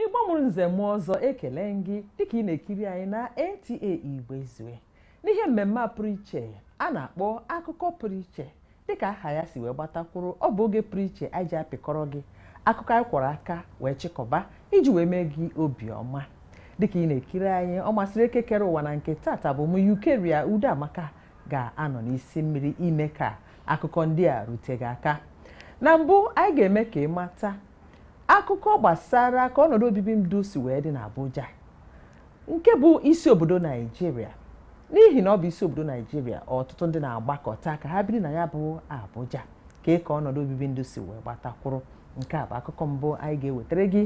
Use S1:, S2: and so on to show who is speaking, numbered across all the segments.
S1: igbo mụrụ nze mụọ ọzọ ekele m gị dịka ị na-ekiri anyị na nta igbo ezue n'ihe mmemme a pụrụ iche a na-akpọ akụkọ pụrụ iche dịka aha ya si wee gbatakwụrụ ọ bụ oge pụrụ iche anyị ji apịkọrọ gị akụkọ anyị kwọrọ aka wee chịkọba iji wee mee gị obi ọma dịka ị na-ekiri anyị ọ masịrị eke kere ụwa na nke tata bụ m eucharia udoamaka ga-anọ n'isi mmiri ime ka akụkọ ndị a rute gị aka na mbụ anyị ga-eme ka ị mata akụkọ gbasara ka ọnọdụ obibi ndụ si wee dị n'Abuja nke bụ isi obodo Naijiria n'ihi na ọ bụ isi obodo Naijiria ọtụtụ ndị na-agbakọta ka ha biri na ya bụ Abuja kee ka ọnọdụ obibi ndụ si wee gbatakwụrụ nke a bụ akụkọ mbụ anyị ga-ewetara gị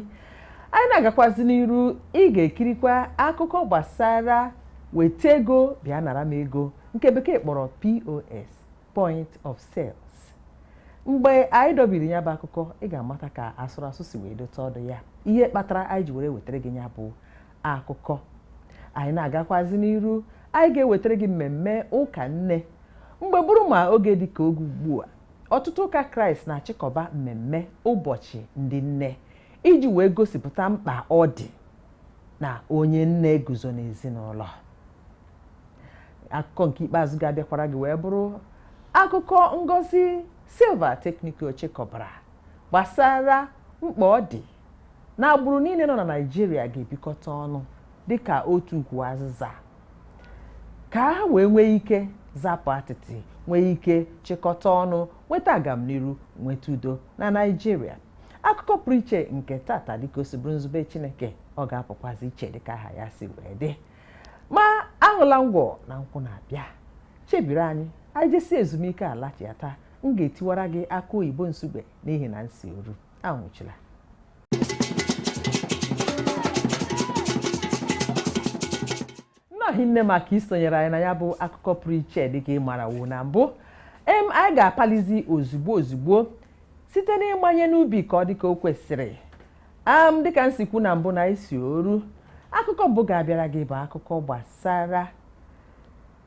S1: anyị na-agakwazi n'iru ị ga-ekirikwa akụkọ gbasara weta ego bịa nara m ego nke bekee kpọrọ POS point of sales mgbe anyị dọbiri ya bụ akụkọ ị ga-amata ka asụrụ asụ si wee dote ọdụ ya ihe kpatara anyị ji were wetara gị ya bụ akụkọ anyị na-agakwazi n'iru Anyị ga-ewetara gị mmemme ụka nne. Mgbe bụrụ ma oge dị ka oge ugbu a, ọtụtụ ụka Kraịst na-achịkọba mmemme ụbọchị ndị nne iji wee gosipụta mkpa ọ dị na onye nne guzo n'ezinụlọ. Akụkọ nke ikpeazụ ga-abịakwara gị wee bụrụ akụkọ Ngozi Silva Technical chịkọbara gbasara mkpa ọ dị na agbụrụ niile nọ na Naịjirịa ga-ebikọta ọnụ dịka otu ukwu azịza ka ha wee nwee ike zapụ atịtị nwee ike chịkọta ọnụ nweta agamniru nweta udo na Naịjirịa akụkọ pụrụ iche nke tata dịka o si bụrụ nzube Chineke ọ ga-apụkwazi iche dịka aha ya si wee dị ma aṅụla ngwọ na nkwụ na-abịa chebiri anyị anyị jesi ezumike alachiata m ga-etiwara gị akụ oyibo nsugbe n'ihi na nsi oru anwụchila nnọọ hinne maka isonyere anyị na ya bụ akụkọ pụrụ iche dịka ị marawo na mbụ em anyị ga-apalizi ozugbo ozugbo site n'ịmanye n'ubi ka ọ dịka o kwesịrị am dịka m si kwu na mbụ na isi oru akụkọ mbụ ga-abịara gị bụ akụkọ gbasara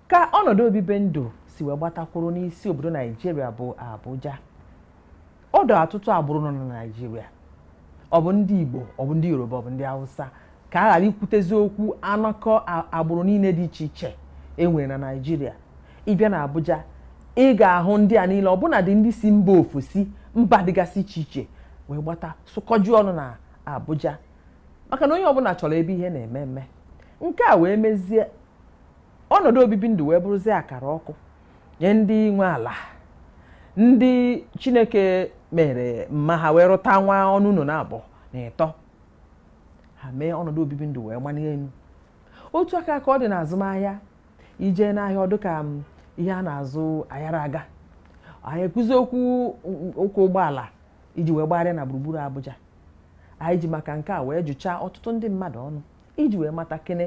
S1: Ka ọnọdụ obibi ndụ si wee gbatakwụrụ n'isi obodo Naijiria bụ Abuja, ọdọ ọtụtụ agbụrụ nọ na Naijiria. Ọ bụ ndị Igbo, ọ bụ ndị Yoruba, ọ bụ ndị Hausa, ka a ghara ikwutezi okwu anọkọ agbụrụ niile dị iche iche e nwere na Naijiria. Ị bịa na Abuja, ị ga-ahụ ndị a niile ọbụnadị ndị si mba ofesi mba dịgasị iche iche wee gbata sụkọju ọnụ na Abuja maka na onye ọbụla chọrọ ebe ihe na-eme eme nke a wee mezie ọnọdụ obibi ndụ wee bụrụzie akara ọkụ nye ndị nwe ala ndị chineke mere mma ha wee rụta nwa ọnụ ụlọ naabọ na ịtọ ha mee ọnọdụ obibi ndụ wee manie elu otu aka ka ọ dị n'azụmahịa i je n'ahịa ọ dụ ka ihe a na-azụ ayara aga anaghị ekwuzi okwu ụgbọala iji wee gbagharịa na gburugburu Abuja anyị ji maka nke a wee jụchaa ọtụtụ ndị mmadụ ọnụ iji wee mata kene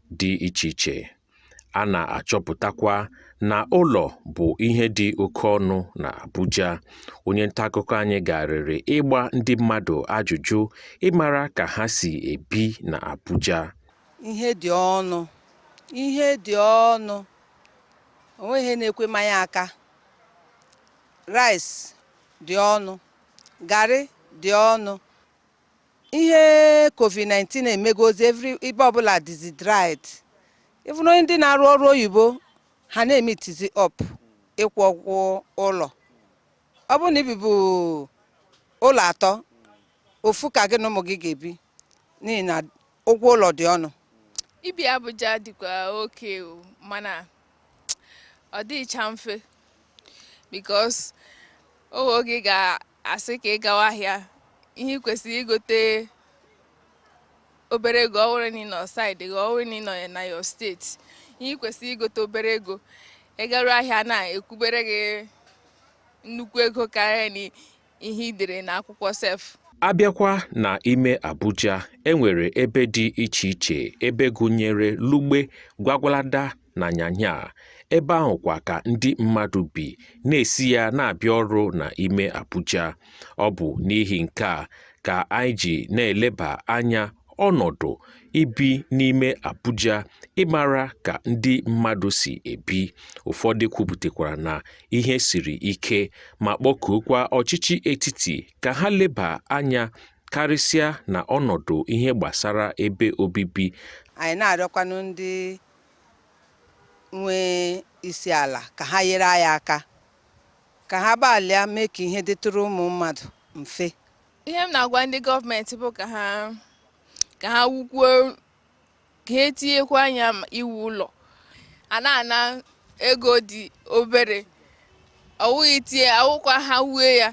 S2: dị iche iche. A na-achọpụtakwa na ụlọ bụ ihe dị oke ọnụ na Abuja. Onye nta akụkọ anyị garịrị ịgba ndị mmadụ ajụjụ ịmara ka ha si ebi na Abuja. Ihe
S3: dị ọnụ. Ihe dị ọnụ. O nweghị ihe na-ekwe mmanye aka. Rice dị ọnụ. Garị dị ọnụ. ihe covid-19 emegozi every ebe ọbụla dịzi dried even onye ndị na-arụ ọrụ oyibo ha na-emitizi up ịkwụ ụgwọ ụlọ ọ bụrụ na i bibu ụlọ atọ ofu ka gị na ụmụ gị ga-ebi n'ihi na ụgwọ ụlọ dị ọnụ ibi
S4: abuja dịkwa okay o mana ọ dịcha mfe because oge ị ga asị ka ị gawa ahịa ihe ị kwesịrị igote obere ego ọ wụrụ na ị nọ side gị ọ wụrụ na ị nọ na your state ihe ị kwesịrị igote obere ego ị garuo ahịa na-ekwubere gị nnukwu ego karịa na ihe i dere na akwụkwọ
S2: sef a bịakwa na ime Abuja e nwere ebe dị iche iche ebe gụnyere Lugbe Gwagwalada na Nyanya ebe ahụkwa ka ndị mmadụ bi na-esi ya na-abịa ọrụ na ime Abuja ọ bụ n'ihi nke a ka anyị ji na-eleba anya ọnọdụ ibi n'ime Abuja ịmara ka ndị mmadụ si ebi ụfọdụ kwupụtakwara na ihe siri ike ma kpọkuokwa ọchịchị etiti ka ha leba anya karịsịa na ọnọdụ ihe gbasara ebe obibi anyị na-arịọkwanụ
S3: ndị nwe isi ala ka ha nyere anyị aka ka ha gbalịa mee ka ihe dịtụrụ ụmụ mmadụ mfe ihe m na-agwa
S4: ndị gọọmenti bụ ka ha ka ha wukwuo ka ha tinyekwuo anya iwu ụlọ a na-ana ego dị obere ọ wụghị tie awụkwa ha wue ya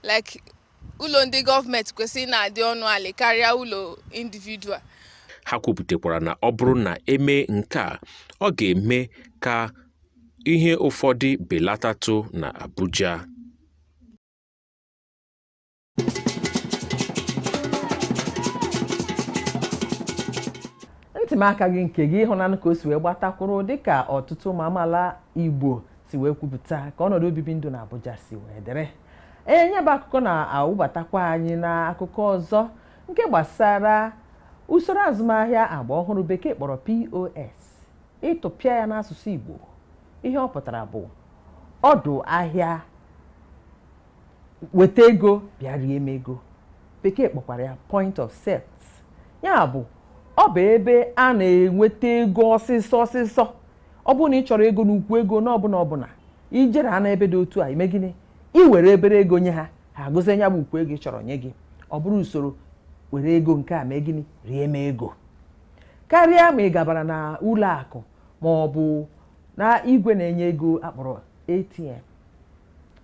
S4: like ụlọ ndị gọọmenti kwesịrị na-adị ọnụ ala karịa ụlọ individual
S2: ha kwupụtakwara na ọ bụrụ na e mee nke a ọ ga-eme ka ihe ụfọdụ belatatụ na Abuja
S1: ntị m akaghị nke gị ihe ọ na-anụ ka o si wee gbatakwụrụ dịka ọtụtụ ụmụ amaala Igbo si wee kwupụta ka ọnọdụ obibi ndụ na Abuja si wee dịrị Ee, ya bụ akụkọ na-awụbatakwa anyị na akụkọ ọzọ nke gbasara usoro azụmahịa agba ọhụrụ bekee kpọrọ POS. Ịtụpịa ya n'asụsụ Igbo, ihe ọ pụtara bụ ọdụ ahịa weta ego bịa rie m ego. Bekee kpọkwara ya point of sales. Ya bụ ọ bụ ebe a na-enweta ego ọsịsọ ọsịsọ Ọ bụrụ na ị chọrọ ego n'ukwu ego na ọbụla ọbụla, i jeruo n'ebe dị otu a, i mee gịnị? I were obere ego nye ha, ha agụzie ya bụ ukwu ego ị chọrọ nye gị. Ọ bụrụ usoro were ego nke a mee gịnị? Rie m ego. Karịa ma ị gabara na ụlọ akụ ma ọ bụ na igwe na-enye ego a kpọrọ ATM.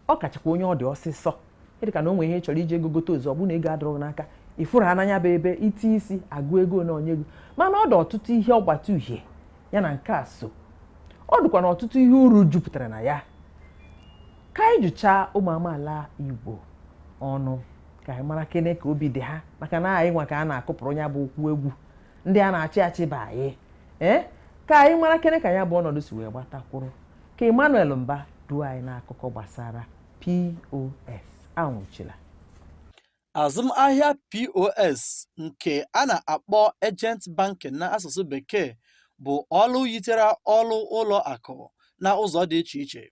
S1: Ọ kachakwa onye ọ dị ọsịsọ. Dị ka na o nwee ihe ị chọrọ iji ego gote ozugbo, ọ bụrụ na ego adịrọ gị n'aka, ị fụrụ ha na nya bụ ebe iti isi agụ ego na-enye ego. Mana ọ dị ọtụtụ ihe ọgbata uhie ya na nke a so ọ dịkwanụ ọtụtụ ihe uru jupụtara na ya ka anyị jụchaa ụmụ amaala Igbo ọnụ ka anyị marakene ka obi dị ha maka na anyị nwa ka a na-akụpụrụ ya bụ ụkwụ egwu ndị a na-achị achị bụ anyị ee eh? ka anyị marakene ka ya bụ ọnọdụ si wee gbatakwụrụ ka Emmanuel Mba duo anyị n'akụkọ gbasara POS anwụchila Azụmahịa
S5: POS nke a na-akpọ Agent Banking n'asụsụ Bekee bụ ọrụ yitere ọrụ ụlọ akụ na ụzọ dị iche iche,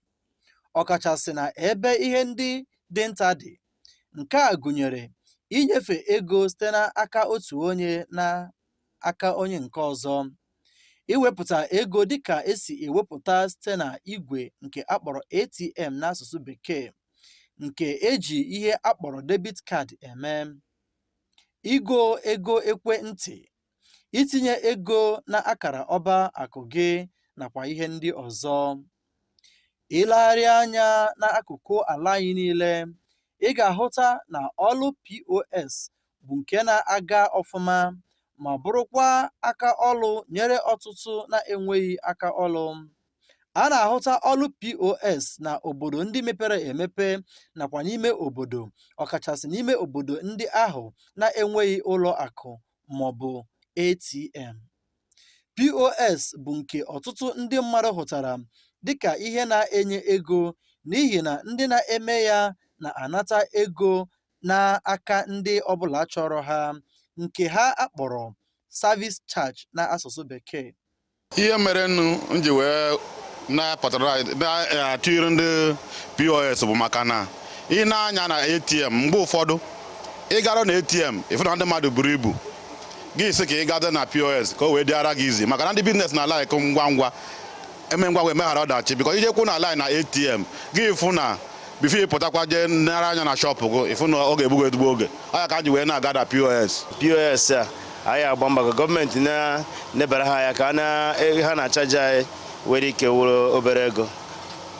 S5: ọkachasị na ebe ihe ndị dị nta dị. Nke a gụnyere inyefe ego site n'aka otu onye na aka onye nke ọzọ, iwepụta ego dịka e si ewepụta site na igwe nke a kpọrọ ATM n'asụsụ Bekee, nke e ji ihe a kpọrọ debit card eme, igo ego ekwentị, itinye ego na akara ọba akụ gị nakwa ihe ndị ọzọ. Ilegharị anya n'akụkụ ala anyị niile, ị ga-ahụta na ọlụ POS bụ nke na-aga ọfụma ma bụrụkwa aka ọlụ nyere ọtụtụ na-enweghị aka ọlụ. a na-ahụta ọrụ pos na obodo ndị mepere emepe nakwa n'ime obodo ọkachasị n'ime obodo ndị ahụ na-enweghị ụlọ akụ ma ọ bụ atm pos bụ nke ọtụtụ ndị mmadụ hụtara dịka ihe na-enye ego n'ihi na ndị na-eme ya na-anata ego n'aka ndị ọbụla chọrọ ha nke ha akpọrọ service charge n'asụsụ bekee ihe
S6: mere nụ m ji wee na-apụtara na-atụnyere ndị pos bụ maka na ị na-anya na atm mgbe ụfọdụ ị gara na atm ị fụ na ndị mmadụ buru ibu gị si ka ị gada na pos ka o wee dịara gị easy maka na ndị business na like ngwa ngwa e mee ngwa ngwa emeghara ọdachi because ije kwụ na line na atm gị fụ na before ị pụtakwa jee nara anya na shọpụ gị ị fụ na ọ ga-egbugo ezigbo oge ọ ya ka m ji wee na-agada pos pos a
S7: anyị agba mbọ ka gọọmenti na-nebara ha anya ka a na- e- ha na-achaji anyị nwere ike wụrụ obere ego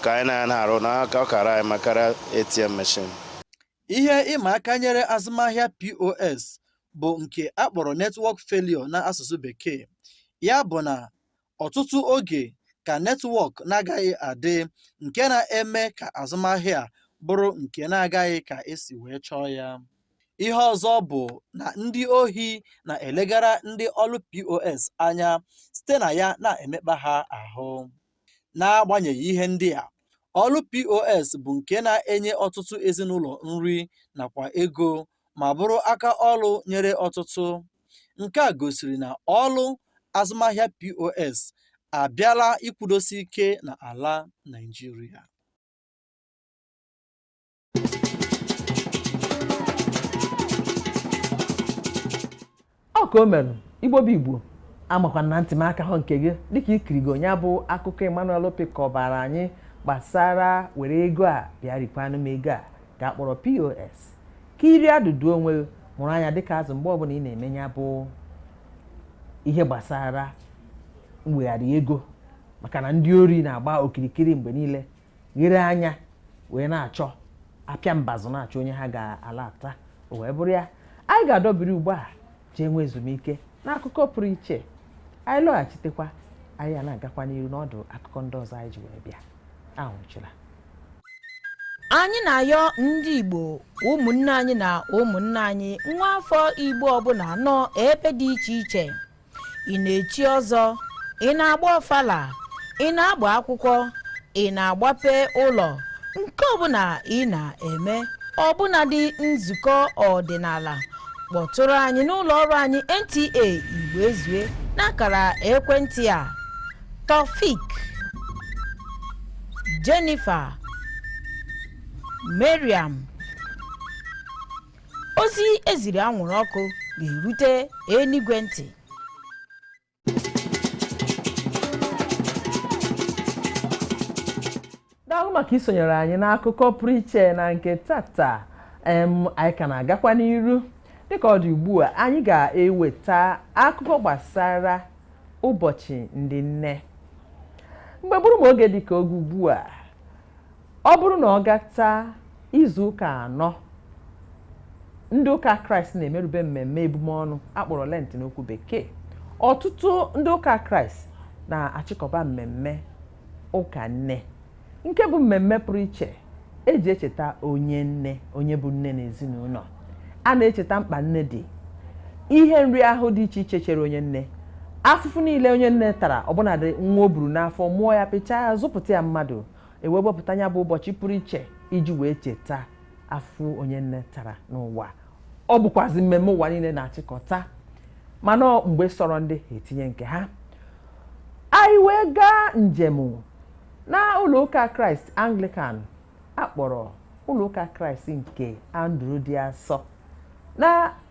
S7: ka anyị na ya na-arụ na aka ọ kara anyị mma kara atm machine
S5: Ihe ịma aka nyere azụmahịa POS bụ nke a kpọrọ network failure n'asụsụ Bekee. Ya bụ na ọtụtụ oge ka netwọk na-agaghị adị nke na-eme ka azụmahịa bụrụ nke na-agaghị ka e si wee chọọ ya. Ihe ọzọ bụ na ndị ohi na-elegara ndị ọrụ POS anya site na ya na-emekpa ha ahụ. N'agbanyeghị ihe ndị a, ọrụ POS bụ nke na-enye ọtụtụ ezinụlọ nri nakwa ego ma bụrụ aka ọrụ nyere ọtụtụ. Nke a gosiri na ọrụ azụmahịa POS abịala ịkwụdosi ike n'ala Naịjirịa.
S1: Ọ ka o mere, Igbo bụ Igbo, amakwa m na ntị m akahọ nke gị dịka i kirigo ya bụ akụkọ Emmanuel Opi kọbara anyị gbasara were ego a bịa rikwanụ m ego a ka a kpọrọ POS ka iri adụdụ onwe gị mụrụ anya dịka azụ mgbe ọbụla ị na-eme ya bụ ihe gbasara mwegharị ego maka na ndị ori na-agba okirikiri mgbe niile ghere anya wee na-achọ apịa mbazụ na-achọ onye ha ga-alata o wee bụrụ ya anyị ga-adọbiri ugbu a jee nwee ezumike n'akụkọ pụrụ iche anyị lọghachitekwa anyị a na-agakwa n'iru n'ọdụ akụkọ ndị ọzọ anyị ji wee bịa
S8: anwụchila anyị na-ayọ ndị igbo ụmụnne anyị na ụmụnna anyị nwa afọ igbo ọbụla nọ ebe dị iche iche ị na-echi ọzọ ị na-agba ọfala ị na-agba akwụkwọ ị na-agbape ụlọ nke ọbụla ị na-eme ọbụnadị nzukọ ọdịnala kpọtụrụ anyị n'ụlọ ọrụ anyị nta igbo ezue n'akara ekwentị a taofik jennifer mariam ozi e ziri anwụrụ ọkụ ga-erute enigwe
S1: ntị daalụ maka isonyere anyị n'akụkọ pụrụ iche na nke tata em anyị ka na-agakwa n'iru dịka ọ dị ugbu a anyị ga-eweta akụkọ gbasara ụbọchị ndị nne mgbe bụrụ ma oge dịka oge ugbu a Ọ bụrụ na ọ gata izu ụka anọ, ndị ụka Kraịst na-emerube mmemme ebum ọnụ a kpọrọ Lent n'okwu Bekee. Ọtụtụ ndị ụka Kraịst na-achịkọba mmemme ụka nne, nke bụ mmemme pụrụ iche e ji echeta onye nne onye bụ nne n'ezinụlọ. A na-echeta mkpa nne dị, ihe nrịahụ dị iche iche chere onye nne, afụfụ niile onye nne tara ọbụnadị nwa o buru n'afọ mụọ ya pịchaa ya zụpụta ya mmadụ e wee wepụta ya bụ ụbọchị pụrụ iche iji wee cheta afụ onye nne tara n'ụwa ọ bụkwazi mmemme ụwa niile na-achịkọta mana ọ mgbe sọrọ ndị ha etinye nke ha anyị wee gaa njem n'ụlọụka kraịst anglikan a kpọrọ ụlọụka kraịst nke andrew dị asọ na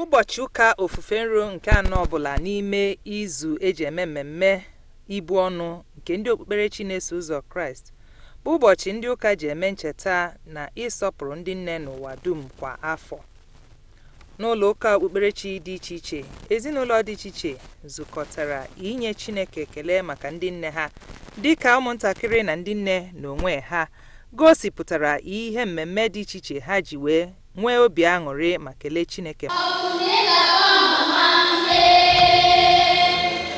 S9: ụbọchị ụka ofufe nro nke anọ ọbụla n'ime izu e ji eme mmemme ibu ọnụ nke ndị okpukperechi na-eso ụzọ kraịst bụ ụbọchị ndị ụka ji eme ncheta na ịsọpụrụ ndị nne n'ụwa dum kwa afọ N'ụlọ ụka okpukperechi dị iche iche, ezinụlọ dị iche iche zukọtara inye Chineke ekele maka ndị nne ha. Dị ka ụmụntakịrị na ndị nne n'onwe ha gosipụtara ihe mmemme dị iche iche ha ji wee nwee obi aṅụrị ma kelee Chineke.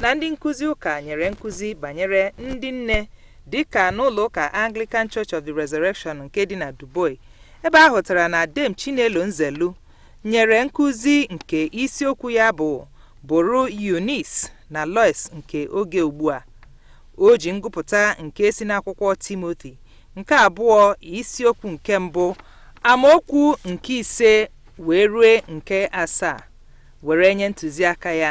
S9: na ndị nkụzi ụka nyere nkụzi banyere ndị nne dị ka n'ụlọ ụka Anglican Church of the Resurrection nke dị na Duboyi ebe a hụtara na Dame Chinelo Nzelu nyere nkụzi nke isiokwu ya bụ bụrụ Eunice na Lois nke oge ugbu a o ji ngụpụta nke si n'akwụkwọ Timothy nke abụọ isiokwu nke mbụ amaokwu nke ise wee rue nke asaa were nye ntụziaka ya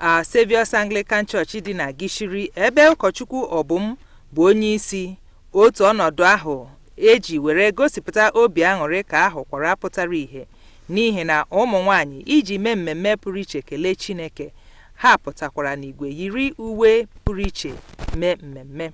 S9: a Saviour's Anglican Church dị na Gishiri ebe ụkọchukwu Obum bụ onye isi otu ọnọdụ ahụ eji were gosipụta obi aṅụrị ka a hụkwara pụtara ìhè n'ihi na ụmụ nwanyị iji mee mmemme pụrụ iche kelee Chineke ha pụtakwara n'igwe yiri uwe pụrụ iche mee mmemme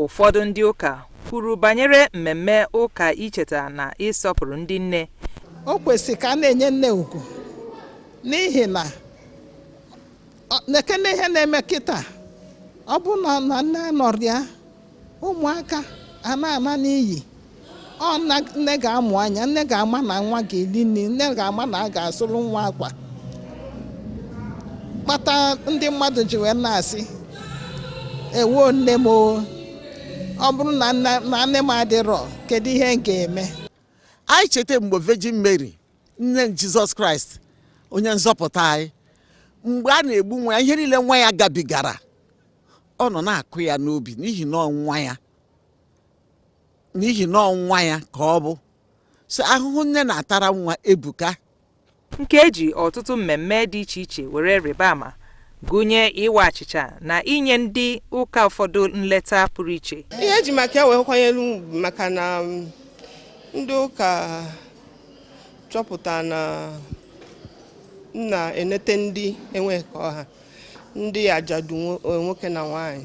S10: Ụfọdụ
S9: ndị ụka kwuru banyere mmemme ụka icheta na ịsọpụrụ ndị nne. O kwesịrị ka
S11: a na-enye nne ugwu n'ihi na nekene ihe na-eme kịta ọ bụrụ na nne anọrọ ya ụmụaka a na-ana n'iyi ọ nne ga-amụ anya nne ga-ama na nwa ga-eli nni nne ga-ama na a ga-asụrụ nwa akwa kpata ndị mmadụ ji wee na-asị ewo nne m ọ bụrụ na nne m adịrọ kedu ihe m ga-eme anyị
S12: cheta mgbe Virgin Mary nne Jizọs Kraịst onye nzọpụta anyị mgbe a na-egbu nwa ya ihe niile nwa ya gabigara ọ nọ na-akụ ya n'obi n'ihi na ọ nwa ya n'ihi na ọ nwa ya ka ọ bụ so ahụhụ nne na-atara nwa ebuka nke
S9: eji ọtụtụ mmemme dị iche iche were rịba ama gụnye ịwa achịcha na inye ndị ụka ụfọdụ nleta pụrụ iche ihe eji maka ya
S13: wee kwanyere ugwu maka na um, ndị ụka chọpụta na m na-enete ndị enweghị ka ọ ha ndị ajadu nwoke na nwaanyị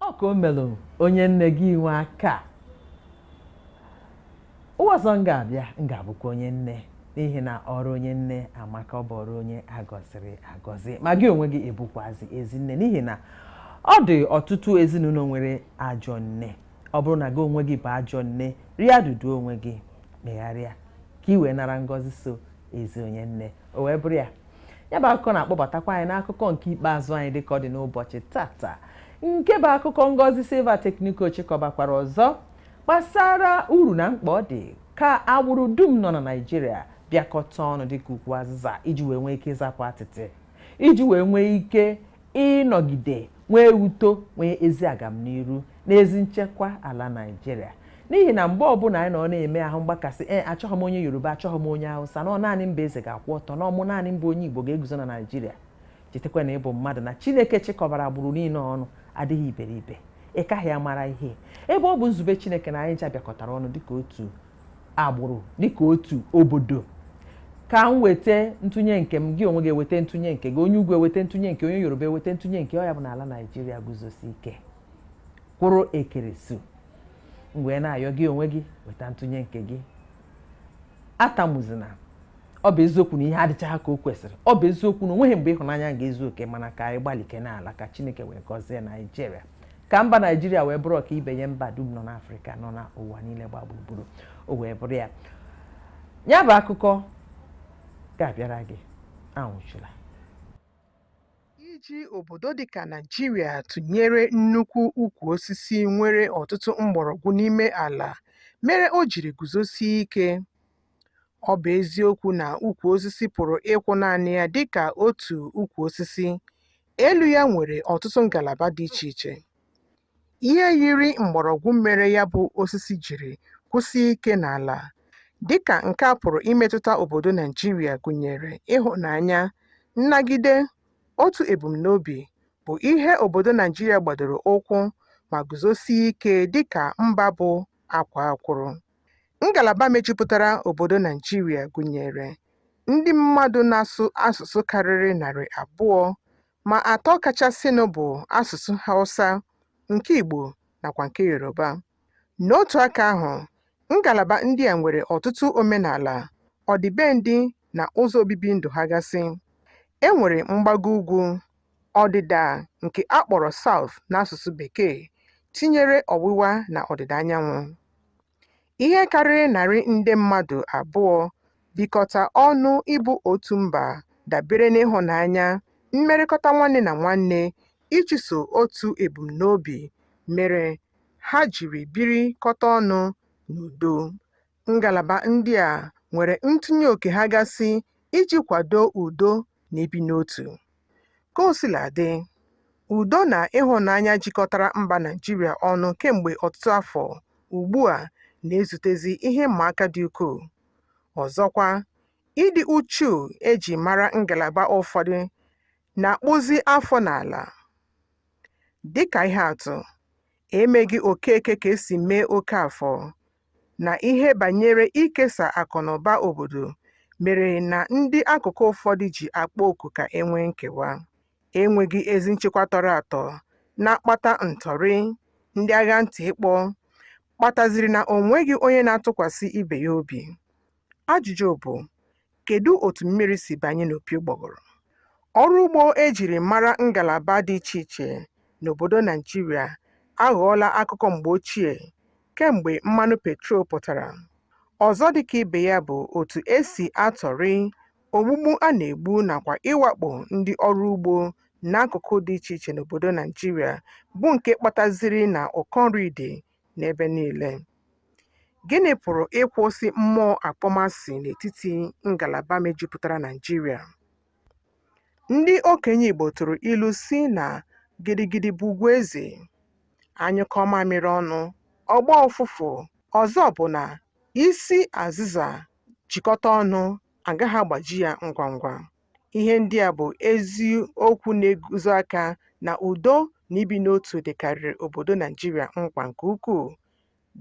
S1: ọ ka o melụ onye nne gị inwe aka ụwa ọzọ m ga-abịa m ga-abụkwa onye nne n'ihi na ọrụ onye nne amaka ọ bụ ọrụ onye agọziri agọzi ma gị onwe gị ị bụkwazi ezi nne n'ihi na ọ dị ọtụtụ ezinụlọ nwere ajọ nne ọ bụrụ na gị onwe gị bụ ajọ nne rịa duduo onwe gị megharịa ka i wee nara ngọzi so ezi onye nne o wee bụrụ ya ya bụ akụkọ na-akpọbatakwa anyị n'akụkọ nke ikpeazụ anyị dịka ọ dị n'ụbọchị tata nke bụ akụkọ Ngozi Silva Tekniko chịkọbakwara ọzọ gbasara uru na mkpa ọ dị ka agbụrụ dum nọ na Naịjirịa bịakọta ọnụ dịka ukwu azịza iji wee nwee ike ịzapụ atịtị iji wee nwee ike ịnọgide nwee uto nwee ezi agamniru na ezi nchekwa ala Naịjirịa n'ihi na mgbe ọbụla anyị nọ na-eme ahụ mgbakasị ee achọghị m onye Yoruba achọghị m onye Hausa na ọ naanị m bụ eze ga-akwụ ọtọ na ọ mụ naanị m bụ onye Igbo ga-eguzo na Naịjirịa chetakwa na ị bụ mmadụ na Chineke chịkọbara agbụrụ niile ọnụ adịghị iberibe ị kaghị amara ihe ebe ọ bụ nzube Chineke na anyị ncha bịakọtara ọnụ dịka otu agbụrụ dịka otu obodo ka m weta ntụnye nke m gị onwe gị eweta ntụnye nke gị onye ugwu eweta ntụnye nke onye yoruba eweta ntụnye nke ọ ya-abụ na ala naijiria guzosie ike kwụrụ ekeresu m wee na-ayọ gị onwe gị weta ntụnye nke gị atamuzina ọ bụ eziokwu na ihe adịchaghị ka o kwesịrị ọ bụ eziokwu na o nweghị mgbe ịhụnanya ga-ezu oke mana ka anyị gbalike n'ala ka chineke wee gọzie naijiria ka mba naijiria wee bụrụ ọkaibe nye mba dum nọ n'afrịka nọ na ụwa niile gba gburugburu o wee bụrụ ya ya bụ akụkọ ga-abịara gị anwụchula
S14: iji obodo dịka Naịjirịa tụnyere nnukwu ukwu osisi nwere ọtụtụ mgbọrọgwụ n'ime ala mere o jiri guzosie ike. Ọ bụ eziokwu na ukwu osisi pụrụ ịkwụ naanị ya dịka otu ukwu osisi, Elu ya nwere ọtụtụ ngalaba dị iche iche. Ihe yiri mgbọrọgwụ mere ya bụ osisi jiri kwụsie ike n'ala, dịka nke a pụrụ imetụta obodo Naịjirịa gụnyere ịhụnanya, nnagide, otu ebumnobi, bụ ihe obodo Naịjirịa gbadoro ụkwụ ma guzosie ike dịka mba bụ akwaa akwụrụ. Ngalaba mejupụtara obodo Naịjirịa gụnyere ndị mmadụ na-asụ asụsụ karịrị narị abụọ, ma atọ kachasịnụ bụ asụsụ Hausa, nke Igbo nakwa nke Yoruba. N'otu aka ahụ, ngalaba ndị a nwere ọtụtụ omenala, ọdịbendị na ụzọ obibi ndụ ha gasị. E nwere mgbago ugwu, Ọdịda nke a kpọrọ South n'asụsụ Bekee tinyere ọwụwa na ọdịda anyanwụ. Ihe karịrị narị nde mmadụ abụọ bikọta ọnụ ịbụ otu mba dabere n'ịhụnanya, mmerịkọta nwanne na nwanne, ịchụso otu ebumnobi mere ha jiri birikọta ọnụ n'udo. Ngalaba ndị a nwere ntụnye oke ha gasị iji kwado udo na ibi n'otu. Ka o sila dị, udo na ịhụnanya jikọtara mba Naịjirịa ọnụ kemgbe ọtụtụ afọ ugbu a na-ezutezi ihe ịma aka dị ukwuu. Ọzọkwa, ịdị uchu e ji mara ngalaba ụfọdụ na-akpụzi afọ n'ala. Dịka ihe atụ, emeghị Okeke ka e si mee Okafọ, na ihe banyere ikesa akụnụba obodo mere na ndị akụkụ ụfọdụ ji akpọ oku ka e nwee nkewa, enweghị ezi nchekwa tọrọ atọ na-akpata ntọrị, ndị agha ntị ịkpọ kpataziri na o nweghị onye na-atụkwasị ibe ya obi. Ajụjụ bụ, kedu otu mmiri si banye n'opi ụgbọgụrụ? Ọrụ ugbo e jiri mara ngalaba dị iche iche n'obodo Naijiria aghọọla akụkọ mgbe ochie kemgbe mmanụ petrol pụtara. Ọzọ dịka ibe ya bụ otu e si atọrị, ogbugbu a na-egbu nakwa ịwakpo ndị ọrụ ugbo n'akụkụ dị iche iche n'obodo Naijiria bụ nke kpataziri na ụkọ nri dị n'ebe niile. Gịnị pụrụ ịkwụsị mmụọ akpọmasị n'etiti ngalaba mejupụtara Naịjirịa? Ndị okenye Igbo tụrụ ilu si na gidigidi bụ ugwu eze, a nyụkọọ mamịrị ọnụ, ọ gbọọ ụfụfụ. Ọzọ bụ na isi azịza jikọta ọnụ, a gaghị agbaji ya ngwa ngwa. Ihe ndị a bụ ezi okwu na-egosi aka na udo na ibi n'otu dịkarịrị obodo Naijiria mkpa nke ukwuu,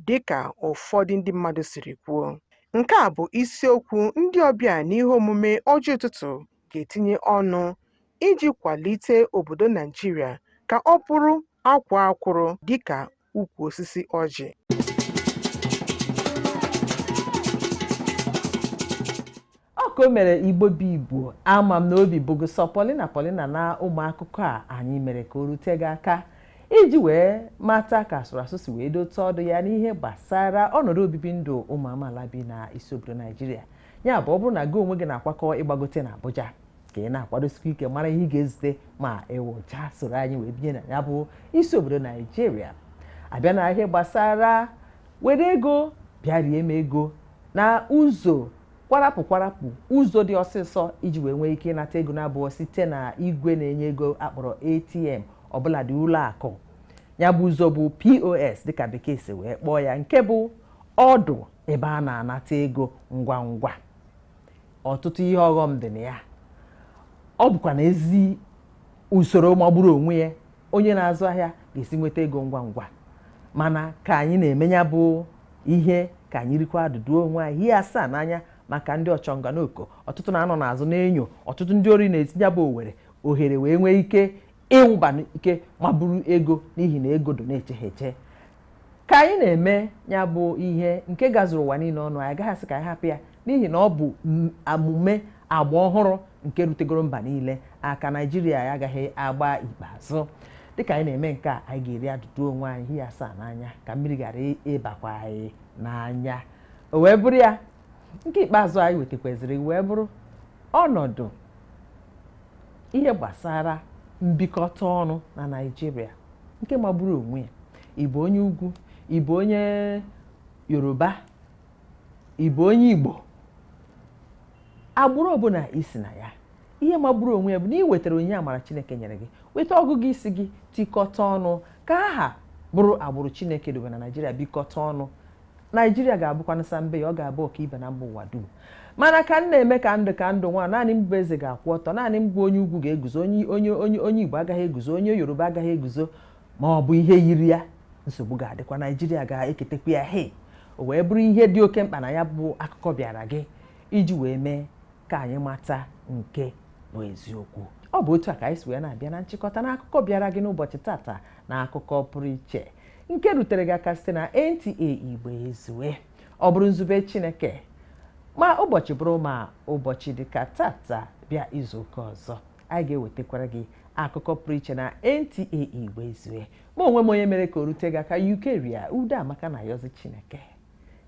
S14: dị ka ụfọdụ ndị mmadụ siri kwuo. Nke a bụ isiokwu ndị ọbịa n'ihe omume Ọjị Ụtụtụ ga-etinye ọnụ iji kwalite obodo Naijiria ka ọ bụrụ akwaa akwụrụ dịka ukwu osisi
S1: ọjị. ka o mere igbo bụ igbo ama m na obi bụ gị sọ pọlịna pọlịna na ụmụ akụkọ a anyị mere ka o rute gị aka iji wee mata ka asụrụ asụ si wee dote ọdụ ya n'ihe gbasara ọnọdụ obibi ndụ ụmụ amaala bi na isi obodo naijiria ya bụ ọ bụrụ na gị onwe gị na-akwakọ ịgbagote na abuja ka ị na-akwadosikwa ike mara ihe ị ga-ezute ma ị wụchaa soro anyị wee binye na ya bụ isi obodo naijiria a bịa na ihe gbasara were ego bịa rie m ego na ụzọ kwarapụ kwarapụ ụzọ dị ọsịsọ iji wee nwee ike ịnata ego na-abụghị site na igwe na-enye ego a kpọrọ atm ọbụla dị ụlọ akụ ya bụ ụzọ bụ pos dịka bekee si wee kpọọ ya nke bụ ọdụ ebe a na-anata ego ngwa ngwa ọtụtụ ihe ọghọm dị na ya ọ bụkwa na ezi usoro magburu onwe ya onye na-azụ ahịa ga-esi nweta ego ngwa ngwa mana ka anyị na-eme nya bụ ihe ka anyị rikwa adụdụ onwe anyị hie asaa n'anya maka ndị ọchọnga n'oko ọtụtụ na-anọ n'azụ na-enyo ọtụtụ ndị ori na-esi nya bụ owere ohere wee nwee ike ịwụba n'ike ma buru ego n'ihi na ego dọ na-eche ha eche ka anyị na-eme ya bụ ihe nke gazuru ụwa niile ọnụ anyị agaghị asị ka anyị hapụ ya n'ihi na ọ bụ m- omume agba ọhụrụ nke rutegoro mba niile aka naijiria ya agaghị agba ikpeazụ dịka anyị na-eme nke a anyị ga-eri adụdụ onwe anyị hie asaa n'anya ka mmiri ghara ịbakwa anyị n'anya o wee bụrụ ya nke ikpeazụ anyị wetakwaziri wee bụrụ ọnọdụ ihe gbasara mbikọta ọnụ na Naịjirịa nke magburu onwe ya ị bụ onye ugwu ị bụ onye Yoruba ị bụ onye Igbo agbụrụ ọbụla i si na ya ihe magburu onwe ya bụ na ị wetara onyinye amara Chineke nyere gị weta ọgụgụ isi gị tikọta ọnụ ka aha bụrụ agbụrụ Chineke dobe na Naịjirịa bikọta ọnụ naijiria ga-abụkwanụ sa mbe ya ọ ga-abụ ọkaibe na mba ụwa dum mana ka m na-eme ka ndụ nwa naanị m bụ eze ga-akwụ ọtọ naanị m bụ onye ugwu ga-eguzo onye igbo agaghị eguzo onye yoruba agaghị eguzo ma ọ bụ ihe yiri ya nsogbu ga-adịkwa naijiria ga-eketekwa ya he o wee bụrụ ihe dị oke mkpa na ya bụ akụkọ bịara gị iji wee mee ka anyị mata nke bụ eziokwu ọ bụ otu a ka anyị si wee na-abịa na nchịkọta na akụkọ bịara gị n'ụbọchị tata na akụkọ pụrụ iche nke rutere gị aka site na NTA Igbo ezue ọ bụrụ nzube Chineke ma ụbọchị bụrụ ma ụbọchị dịka tata bịa izu ụka ọzọ anyị ga-ewetakwara gị akụkọ pụrụ iche na NTA Igbo ezue ma onwe m onye mere ka o rute gị aka Eucharia Udeamaka na-ayọzi Chineke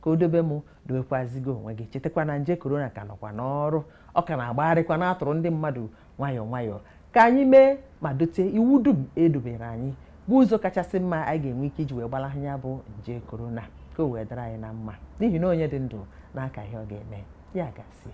S1: ka o dobe mụ dobekwazi gị onwe gị chetakwa na nje korona ka nọkwa n'ọrụ ọ ka na-agbagharịkwa na-atụrụ ndị mmadụ nwayọọ nwayọọ ka anyị mee ma dote iwu dum e dobere anyị bụ ụzọ kachasị mma anyị ga-enwe ike iji wee gbalahụ ya bụ nje korona ka o wee dara anyị na mma n'ihi na onye dị ndụ na-aka ihe ọ ga-eme ya gazie